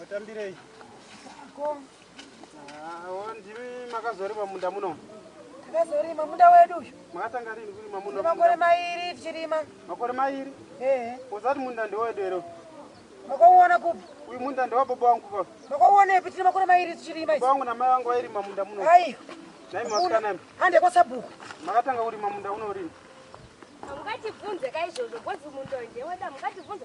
Watambirei? Ko. Ah, ndimi makazorima munda muno. Takazorima munda wedu uyu. Makatanga rini kurima munda? Makore mairi tichirima. Makore mairi? Eh. Uzati munda ndewedu here? Makauona kupi? Uyu munda ndewa baba wangu baba. Makauonepi tine makore mairi tichirima? Baba wangu namai wangu vairima munda muno. Hai. Nai masikana imi. Hande kwa sabhuku. Makatanga kurima munda uno rini? Mukatibvunze kaizvozvo, bhodzi munda ndewedu, mukatibvunze.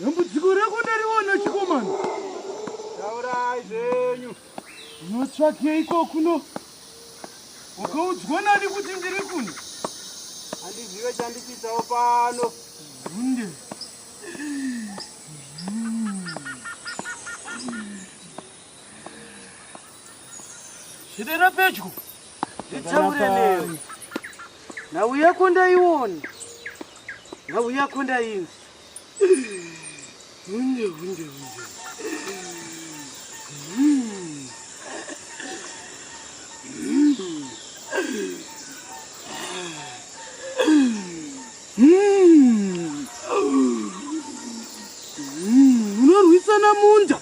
Dambudziko rako ndariona chikomana. Taurai zvenyu. Unotsvakei ko kuno? Wakaudzwa nani kuti ndiri kuno? Handizive chandichiitawo pano. Hunde. Zvidera pedyo. Nditaure newe. Nhau yako ndaiona. Nhau yako ndainzi. Hunde hunde hunde. Unorwisana munda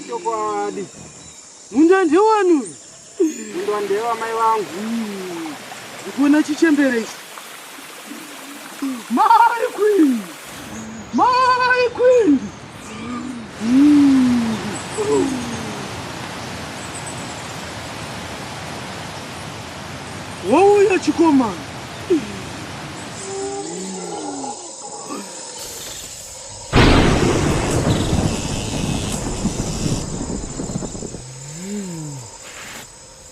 chokwadi, munda ndewani uyu? Munda ndewa mai vangu. Ndikuona chichembere ichi. Mai queen, mai queen. wauya chikomana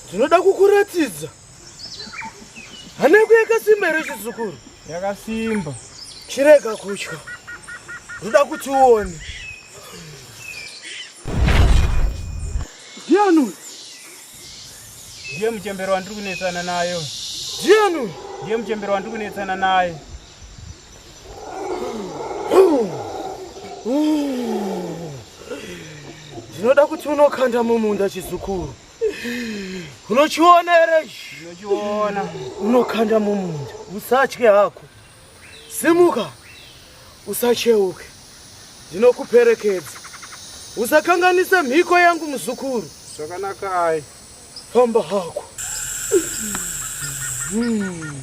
ndinoda kukuratidza Haneko yakasimba here chizukuru? Yakasimba. Chirega kutya. Ruda kuti uone. Ndiani uyu? Ndiye muchembero wandiri kunetsana naye. Ndiani uyu? Ndiye muchembero wandiri kunetsana naye. Ndinoda kuti unokanda mumunda chizukuru. unochiona here unochiona unokanda mumunda usatye hako simuka usacheuke ndinokuperekedza usakanganise mhiko yangu muzukuru zvakanakai famba hako hmm.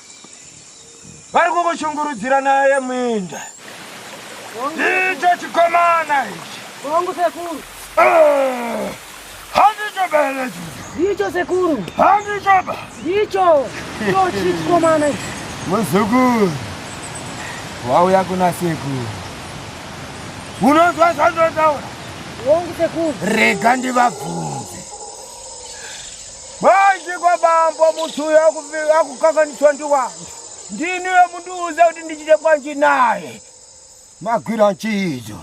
vari kukushungurudzira naye muinda ndicho chikomana ichi hongu sekuru ah, handicho belecho ndicho sekuru handicho ba ndicho chochi chikomana ichi muzukuru wauya kuna sekuru unonzwa zvandotaura hongu sekuru rega ndivabvunza Manje kwabambo muthu uyo akukanganiswa ndi wanhu ndini uyo mundiudza kuti ndichite kwanji naye magwira nchiidzo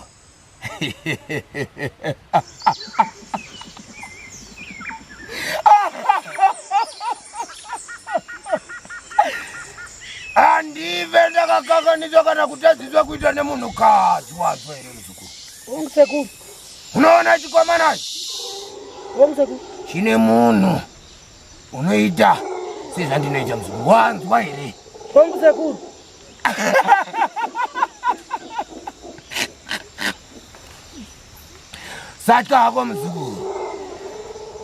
andive ndakakanganiswa kana kutadziswa kuita nemunhukadzi wazvo here muzukuru unoona chikomana chine munhu unoita sezvandinoita muzukuru wanzwa here hongu sekuru satya hako muzukuru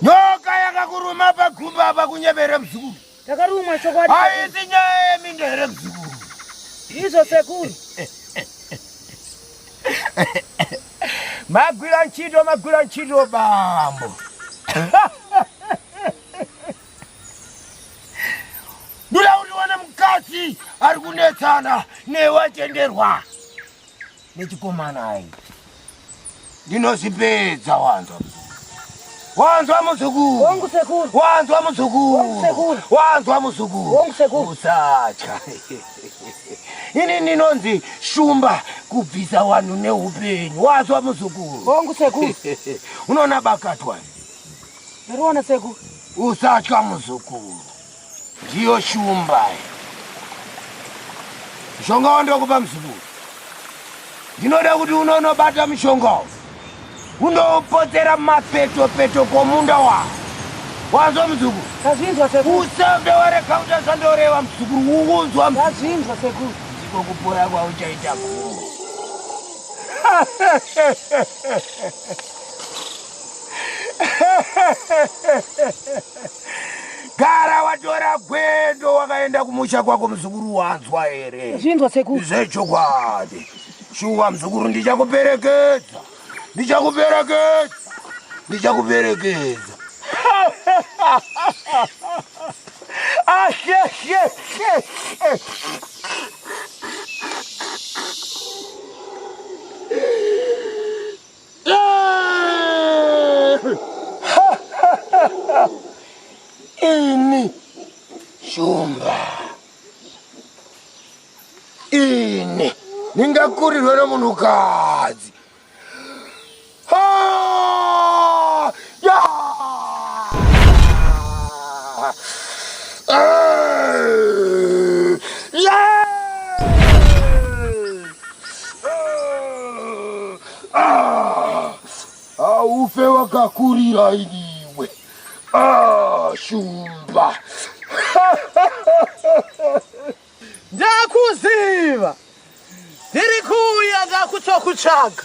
nyoka yakakuruma pagumba apa kunyebere muzukuru Takarumwa chokwadi. Haisi nyaya yeminda here mzukuru? Izvo sekuru. Magwira ntchito, magwira ntchito bambo. Ndira uriwana mukadzi ari kunetsana newe atenderwa. nechikomana hai ndinozvipedza wanzwa wanzwa muzukuru wangu sekuru wanzwa muzukuru sekuru wanzwa muzukuru wangu sekuru usatya ini ndinonzi shumba kubvisa wanhu neupenyu wanzwa muzukuru wangu sekuru unoona bakatwa ndariona sekuru usatya muzukuru Ndiyo shumba. Mushonga wandokupa mzukuru. Ndinoda kuti unonobata mushonga uyu. Undopotsera mapeto peto komunda wako. Wanzwa mzukuru? Ndazvinzwa sekuru. Usave warega kuti zvandoreva mzukuru. Ukunzwa mzukuru? Ndazvinzwa sekuru. Ndiko kupora kwauchaita guru. gara watora gwendo wakaenda kumusha kwako muzukuru wanzwa here zvinzwa sekuru zvechokwadi shuwa muzukuru ndichakuperekedza ndichakuperekedza ndichakuperekedza ini shumba ini ndingakurirwe nomunhukadzi Ah, haufe wakakurira iniwe ah, shumba ndakuziva ndiri kuuya ndakutokutsvaga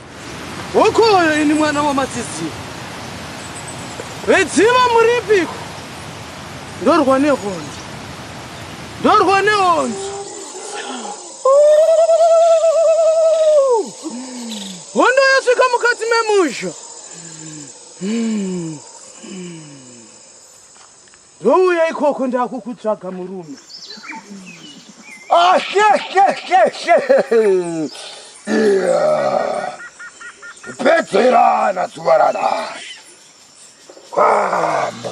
Hokoyo ini mwana wamatsidziwa vedziva muripiko ndorwa nehonzo ndorwa nehonzo hondo yasvika mukati memusha hmm. Ndouya ikoko ndakukutsvaga murume. Ah, she, she, she, she. Yeah. Pedzerana zuva ranhasi. Kwambo.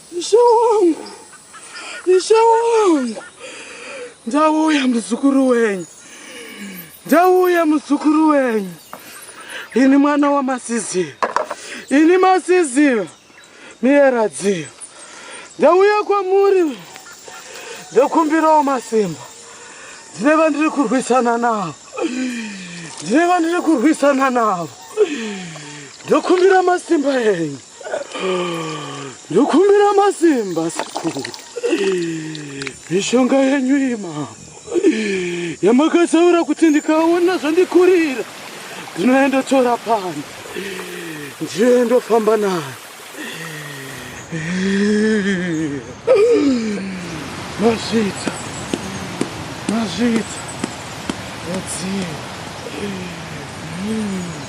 Ishe wangu, Ishe wangu, ndauya muzukuru wenyu, ndauya muzukuru wenyu, ini mwana waMasizira, ini Masizira Miyeradzira, ndauya kwamuri ndokumbirawo masimba, ndine vandiri kurwisana navo, ndine vandiri kurwisana navo, ndokumbira masimba enyu. ndokumbira masimba sekuru mishonga yenyu imambo yamakataura kuti ndikaona zvandikurira ndinoendotora pano ndiendofamba nayo mazvita mazvita mudziyo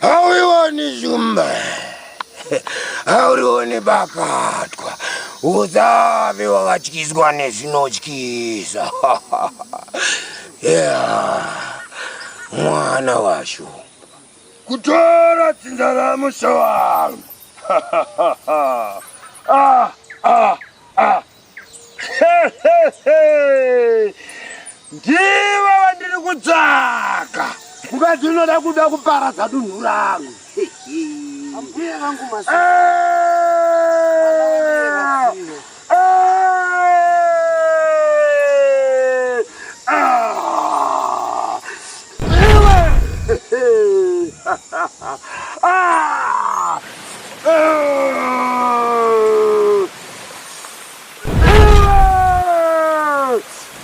haurioni shumba haurioni bakatwa usave wakatyiswa nezvinotyisa mwana washu kutora dzinza ramusha wangu ah, ah, ah. ndivo vandiri kutsvaka mukadzi unoda kuda kuparadza dunhu rangu ambuya vangu masi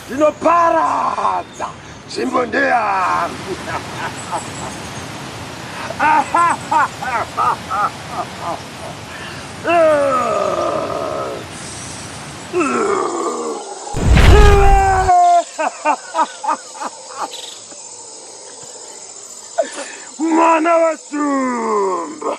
ndinoparadza nzvimbo ndeyangu mwana wasumba